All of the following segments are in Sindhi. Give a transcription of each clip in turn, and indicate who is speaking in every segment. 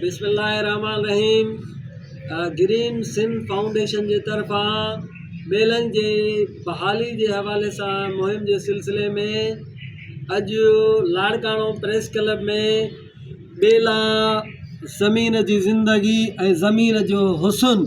Speaker 1: بسم الله الرحمن الرحيم گرين سنڌ فائونڊيشن جي طرفان ٻيلن جي بحالي جي حوالي سان مهم جي سلسلي ۾ اڄ لاڙڪاڻو پريس ڪلب ۾ ٻيلا زمين جي زندگي ۽ زمين جو حسن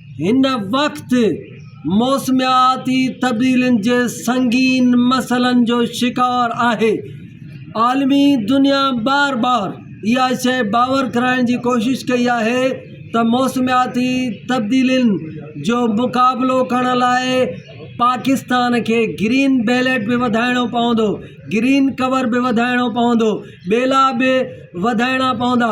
Speaker 1: هن وقت موسمياتي تبديلين جي سنگين مسئلن جو شڪار آهي عالمي دنيا بار بار اها شئي باور ڪرائڻ جي ڪوشش ڪئي آهي ته موسمياتي تبديلين جو مقابلو ڪرڻ لاء پاڪستان کي گرين بيلٽ به وڌائڻو پوندو گرين ڪور به وڌائڻو پوندو ٻيلا به وڌائڻا پوندا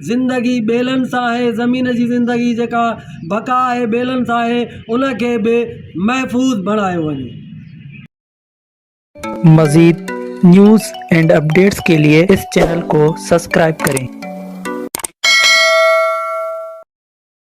Speaker 1: زندگي ٻيلن سان آهي، زمين جي زندگي جيڪا بقا آهي ٻيلن سان آهي ان کي به محفوظ بڻايو وڃي.
Speaker 2: مزيد نيوز اينڊ اپڊيٽس ڪي لئي اس چينل ڪو سسڪرائب ڪرين.